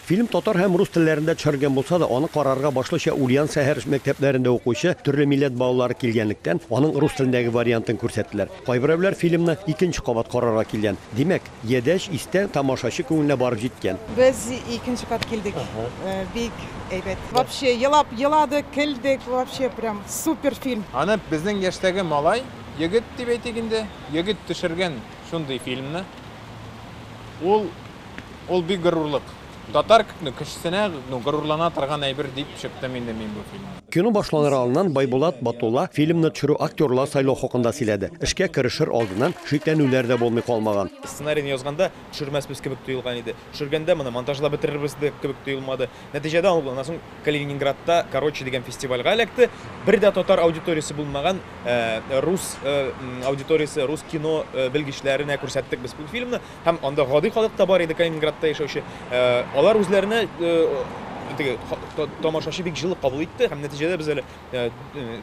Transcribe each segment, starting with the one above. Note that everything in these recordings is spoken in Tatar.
Фильм татар һәм рус телләрендә төшерелгән булса да, аны карарга башлыча Ульян сәһәр мәктәпләрендә укучы төрле милләт балалары килгәнлектән, аның рус телендәге вариантын күрсәттеләр. Кайберәүләр фильмны икенче кабат карарга килгән. Димәк, ядәч истә тамашачы күңеленә барып җиткән. Без икенче кат килдек. Бик әйбәт. Вообще елап еладык, көлдек, вообще прям супер фильм. Аны безнең яшьтәге малай, егет дип әйтик инде, егет төшергән шундый фильмны. Ул Ул бик горурлык. Татар кне кешесенә ну горурлана торган әйбер дип чыктым инде мин бу фильмны. Кино башланыр алдыннан Байбулат Батулла фильмны төшерү актерлар сайлау хакында сөйләде. Эшкә керешер алдыннан шикләнүләр дә булмый калмаган. Сценарийны язганда төшермәсбез кебек тоелган иде. Төшергәндә моны монтажлап бетерербез дә кебек тоелмады. Нәтиҗәдә ул аннан соң Калининградта Короче дигән фестивальгә эләкте. Бер дә татар аудиториясе булмаган рус аудиториясе, рус кино белгечләренә күрсәттек без бу фильмны. Һәм анда гади халык та бар иде, Калининградта яшәүче. Алар үзләренә теге тамашачы бик җылы кабул итте һәм нәтиҗәдә без әле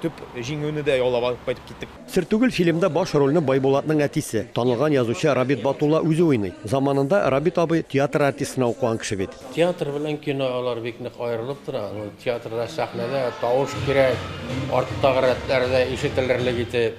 төп җиңүне дә яулап алып кайтып киттек. Сер түгел, фильмда баш рольне Байбулатның әтисе, танылган язучы Рабит Батулла үзе уйный. Заманында Рабит абый театр артистына укыган кеше бит. Театр белән кино алар бик нык аерылып тора. Театрда сәхнәдә тавыш кирәк, арттагы рәтләрдә ишетелерлек итеп.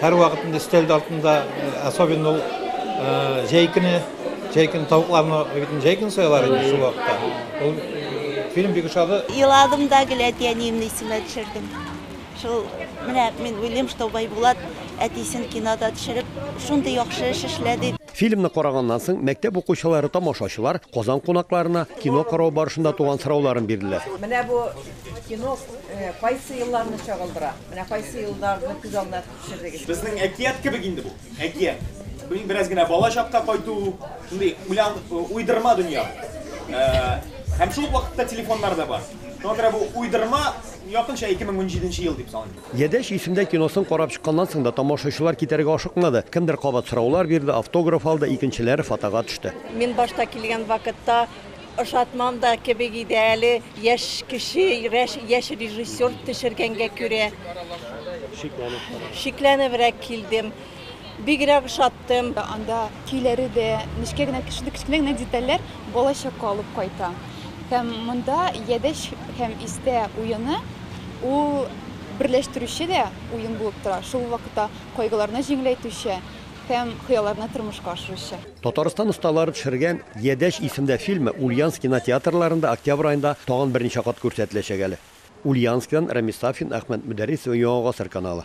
Һәрвакыт инде өстәл артында, особенно ул җәй көне, җәй көне тавыкларны бит җәй көне соялар инде шул вакытта. Ул фильм бик ошады. Еладым да гел әти әниемне исемә төшердем. Шул менә мин уйлыйм, что Байбулат әтисен кинода төшереп, шундый яхшы эш эшләде. Фильмны караганнан соң мәктәп укучылары тамашачылар Казан кунакларына кино карау барышында туган сорауларын бирделәр. Менә бу кино э, кайсы елларны чагылдыра? Менә кайсы елларны күз алдына төшердегез? Безнең әкият кебек инде бу. Әкият. Бу бераз генә бала чакка кайту, шундый уйлан э, уйдырма дөнья. Э, һәм шул вакытта телефоннар да бар. Шуңа күрә бу уйдырма якынча 2017 ел дип саныйм. Ядәч исемдә киносын карап чыкканнан соң да тамашачылар китәргә ашыкмады. Кемдер кабат сораулар бирде, автограф алды, икенчеләре фотога төште. Мин башта килгән вакытта ошатмам да кебек иде әле, яшь кеше, рәш яшь режиссер төшергәнгә күрә. Шикләнеп. Шикләнебрәк килдем. Бигрәк ошат. Кайттым. Анда көйләре дә, нечкә генә, шундый кечкенә генә детальләр балачакка алып кайта. Һәм монда Ядәч һәм Истә уены ул берләштерүче дә уен булып тора, шул ук вакытта кайгыларны җиңеләйтүче һәм хыялларны тормышка ашыручы. Татарстан осталары төшергән Ядәч исемдә фильмы Ульяновск кинотеатрларында октябрь аенда тагын берничә кат күрсәтеләчәк әле. Ульяновскидан Рәмис Сафин, Әхмәт Мөдәррисов, Яңа гасыр каналы.